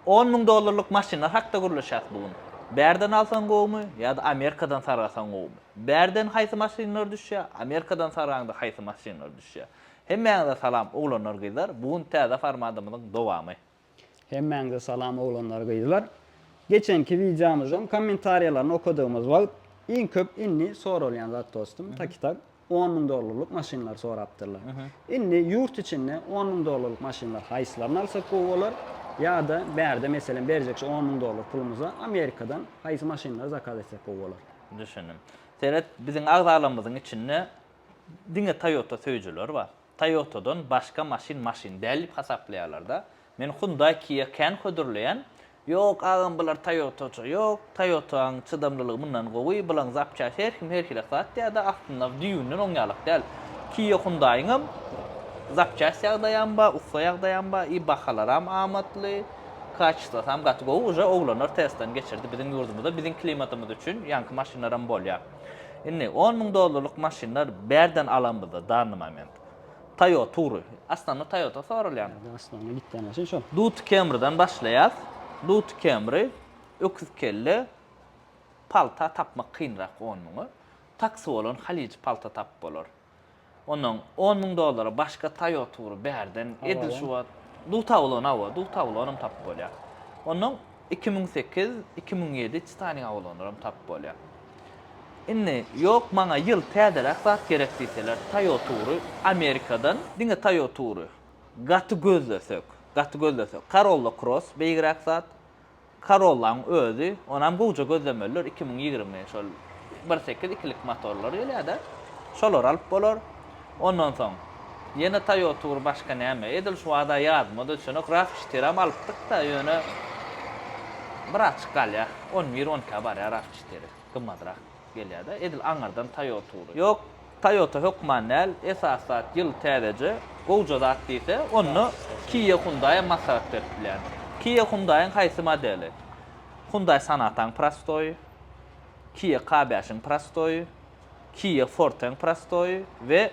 On müň dollarlyk maşynlar hakda gürleşýäs bu gün. Bärden alsaň gowumy ýa-da Amerikadan sargasaň gowumy? Bärden haýsy maşynlar düşýär, Amerikadan sargaňda haýsy maşynlar düşýär? Hemmäňize salam oglanlar gyzlar bu gün täze formadymyzyň dowamy. Hemmäňize salam oglanlar gyzlar. Geçenki wideomyzyň kommentariýalaryny okadygymyz wagt iň köp indi soralýan zat dostum taki tak. On müň dollarlyk maşynlary sorapdyrlar. Indi ýurt içinde on müň dollarlyk maşynlar haýsylaryny alsak gowy bolar? Ýa-da bärde meselem berjek şu on müň dollar pulumyza Amerikadan haýsy maşynlary zakaz etsek gowy bolar? Düşündim. Seret, biziň agzalarymyzyň içinde diňe Toyota söýüjiler bar. Toyotadan başga maşyn maşyn däl diýip hasaplaýarlarda. Men Hyundai Kia kän hödürleýän. Ýok agam bular Toyotaça ýok, Toyotaň çydamlylygy mundan gowy, bulaň zapçast her kim her hili sat diýärde aslynda düýbünden oň ýalak däl. Kia Hyundaiňem zapçast ýagdaýam bar, ussa ýagdaýam bar i bahalaram amatly, kaçestasam gaty gowy, uje oglanlar testdan geçirdi biziň ýurdumyzda biziň klimatymyz üçin ýaňky maşynlaram bolýar. Indi on müň dollarlyk maşynlar bärden alanmyzda danny moment. Tayo Tury. Aslynda Toyota soralýan. Aslynda gitýän maşyn şol. Duty Camrydan başlaýas. Duty Camry, öküz kelle, palta tapmak kynrak on müňe. Taksy bolan halyjy palta tapyp bolar. Ondan on müň dollara başga Toyota tury bärden edil şu wagt Dutawlon hawa, Dutawlonam tapyp bolýar. Ondan iki müň sekiz, iki müň ýedi Titanik awlonlaram tapyp bolýar. Indi ýok maňa ýyl täzeräk zat gerek diýseler Toyota tury Amerikadan. Diňe Toyota tury. Gaty gözlesek, gaty gözlesek Corolla Cross beýigräk zat. Corolla-nyň özi, onam gowja gözlemelidir, iki müň ýigrimi, şol bir sekiz ikilik motorlar gelýär-de, şolary alyp bolar. Ondan soň, ýene Toyota bir başga näme, edil şu wagta ýadyma-da düşenok, Raw-çytyram alypdyk-da, ýöne birazçyk galýar, on bir, on ikä barýar Raw-çytyry, gymmadrak gelýär-de, edil aňyrdan Toyota ugry ýok. Toyota hökman däl, esasy zat ýyl täzeje, gowja zat diýse, onda Kia Hyundai maslahat berip bilýän. Kia Hyundai-yň haýsy modeli? Hyundai Sonata-yň prostoýy, Kia K bäş-iň prostoýy, Kia Forte-yň prostoýy we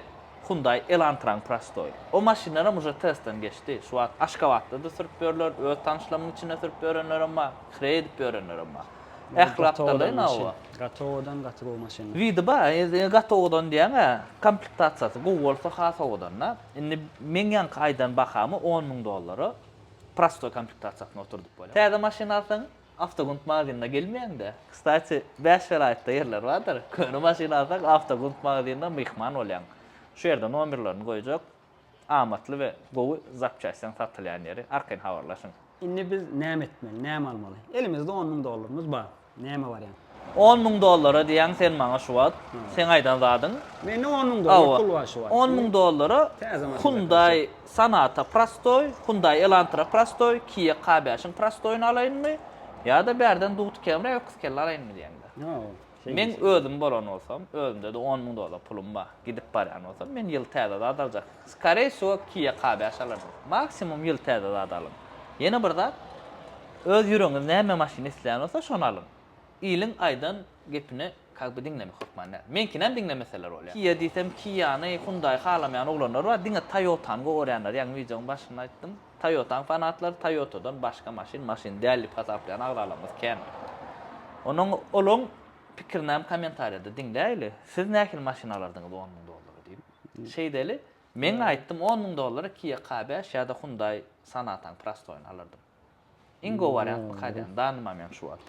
Hyundai Elantra-yň prostoýy. O maşynlaram uje testden geçdi. Şu wagt Aşgabatda-da sürüp ýörler, öz tanyşlarymyň içinde sürüp ýörenlerem bar, hreý edip ýörenlerem bar. Ählatdaly nawa. Gatowodan gaty gowy maşyn. Widi ba, gatowodan diýäňä, komplektasiýasy gowy bolsa has owadanda. Indi meň ýaňky aýdan bahamy on müň dollara prostoý komplektasiýasyny oturdyp bolýar. Täze maşyn alsaň, Awtogund magazynyna gelmeýäň-de. Kstati, bäş welaýatda ýerler bardyr. Köne maşyn alsaň, Awtogund magazynyna myhman bolýaň. Şu ýerde nomerlerini goýjak. amatly we gowy zapçastdan satylýan ýeri arkaýyn habarlaşyň. Indi biz näme etmeli, näme almaly? Elimizde on müň dollarymyz bar. Näme barýan? On müň dollara diýýäň sen maňa şu wagt. Seň aýdan zadyň? Mende on müň dollar pul bar şu wagt. On müň dollara Hyundai Sonata prostoý, Hyundai Elantra prostoý, Kia K beşiň prostoýyny alaýynmy? Ýa-da bärden Dugti Camry öküz kelle alaýynmy diýýäňdä? Meň özüm bolan bolsam, özümde-de on müň dollar pulum bar. Gidip barýan bolsam, men ýyl täze zat aljak. Skoreý wsýo Kia K bäş alardym. Maksimum ýyl täze zat alyň. Ýene bir zat, öz ýüregiňiz näme maşyn isleýän bolsa, şony alyň. Iliň aýdan gepini kak bi diňlemek hökman däl. Meňkinäm diňlemeseler bolýar. Kia diýsem Kiany, Hyundai halamaýan oglanlar bar, diňe Toyotany gowarýanlar, ýaňy wideoň başynda aýtdym. Toyota-nyň fanatlary Toyota-dan başga maşyn maşyn däl diýip hasaplaýan agralarymyz kändir. Onuň olaň pikirini hem kommentariýada diňläýeli. Siz nähili maşyn alardyňyz on müň dollara diýip? Şeýdeli, men aýtdym on müň dollara Kia K beş ýa-da Hyundai Sonata-nyň prostoýyny alardym. Iň gowy wariant bu Kadian. Danymam ýaňy şu wagt.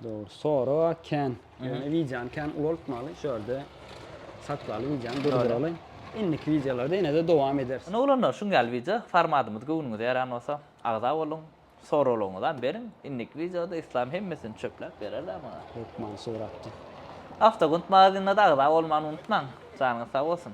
Dogry. Sorag a kän. Ýöne wideony kän ulaltmaly. Şu ýerde saklaly wideony durduraly. Indiki wideolarda ýene-de dowam ederis. Ine oglanlar şuň ýaly wideo formadymyz göwnüňize ýaran bolsa agza boluň. Soraglaryňyzam beriň. Indiki wideoda Yslam hemmesini çöpläp berer-dä maňa. Hökman suratda. Awtogund magazinine-de agza bolmany unutmaň. Janyňyz sag bolsun.